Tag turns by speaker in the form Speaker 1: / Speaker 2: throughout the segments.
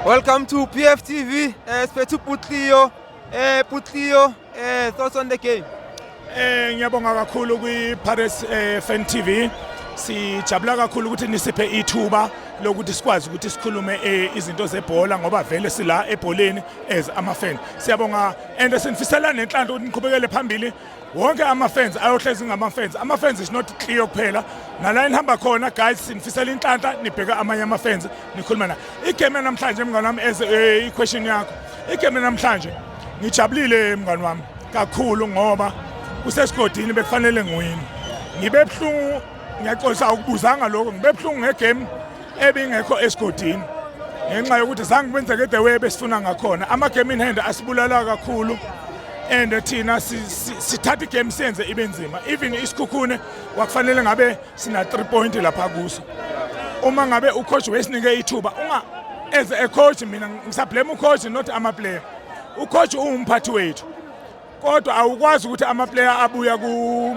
Speaker 1: Welcome to PF TV. Uh, Spetu Putlio. Uh, eh, Putlio, uh, eh, thoughts on the game? Eh ngiyabonga
Speaker 2: kakhulu kwi Paris eh, Fan TV. Sijabula kakhulu ukuthi nisiphe ithuba lokuthi sikwazi ukuthi sikhulume eh, izinto zebhola ngoba vele sila ebholeni as ama fan. Siyabonga and sinifisela nenhlanhla ukuthi niqhubekele phambili. wonke ama-fans ayohlezi ngama-fans ama-fans is not clear kuphela nala enihamba khona guys sinifisela inhlanhla nibheke amanye ama-fans nikhuluma na igame namhlanje mngani wami as eh, i-question yakho igame namhlanje ngijabulile mngani wami kakhulu ngoba kusesigodini bekufanele ngiwini ngibe buhlungu ngiyaxolisa awukubuzanga lokho ngibe buhlungu ngegame ebingekho esigodini ngenxa yokuthi zange kwenzeke the way besifuna ngakhona ama-game in hand asibulala kakhulu and thina sithatha igame senze ibe nzima even isikhukhune wakufanele ngabe sina three point lapha kuso uma ngabe ucoach wesinike ithuba unga as a coach mina ngisablame ucoach not amaplayer ucoach uwumphathi wethu kodwa awukwazi ukuthi amaplayer abuya ku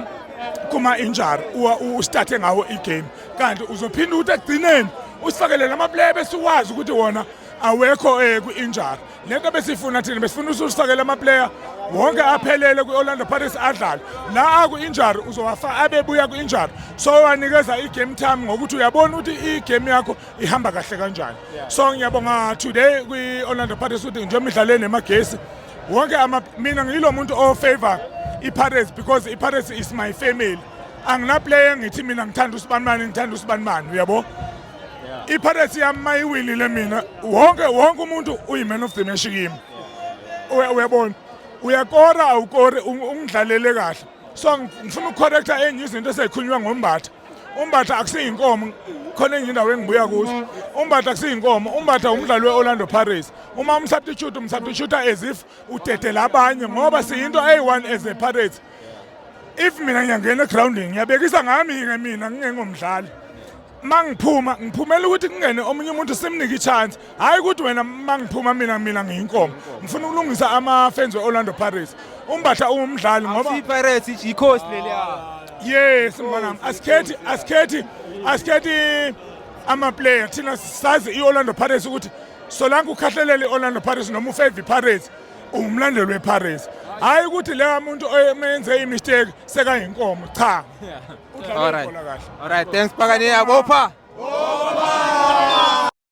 Speaker 2: kuma injury uwa ustarthe ngawo igame kanti uzophinda ukuthi egcineni usifakele lamaplayer bese uwazi ukuthi wona awekho eh ku injury lento besifuna thina besifuna usifakele amaplayer wonke aphelele kwi-orlando pirates adlale la aku-injury uzowafa abebuya ku-injury so wanikeza i-game time ngokuthi uyabona ukuthi i-game yakho ihamba kahle kanjani so ngiyabonga today kwi-orlando pirates ukuthi njengoba idlale nemagesi wonke ama mina ngilo muntu o favor iPirates because iPirates is my family angina player ngithi mina ngithanda usibanimani ngithanda usibanimani uyabo iPirates yami mayiwinile mina wonke wonke umuntu uyiman of the match kimi uyabona uyakora awukore ungidlalele kahle so ngifuna ukucorrecta enye izinto esezikhulunywa ngombatha umbatha akusiyinkomo khona enye indawo engibuya kuso umbatha akusiyinkomo umbatha umdlali we-orlando pirates uma umsubstitute umsubstitute as if udedela abanye ngoba siyinto eyi-one as a pirates if mina ngiyangena egroundini ngiyabekisa ngami-ke mina ngingengomdlali uma ngiphuma ngiphumela ukuthi kungene omunye umuntu simnike i-chance hayi ukuthi wena mangiphuma mina mina ngiyinkomo ngifuna ukulungisa ama-fans we-orlando pirates umbatha ungumdlali ngoba Pirates ikhosi
Speaker 1: leli yes
Speaker 2: mfanam asikhethi asikhethi asikhethi amaplayer thina sazi i-orlando pirates ukuthi solanke ukhahlelele i-orlando pirates noma ufave pirates ungumlandeli wepirates hayi ukuthi leya muntu omenze imistake
Speaker 1: sekayinkomo
Speaker 2: cha
Speaker 1: udlala ibhola
Speaker 2: kahle
Speaker 1: all right thanks
Speaker 2: pakane
Speaker 1: yabopha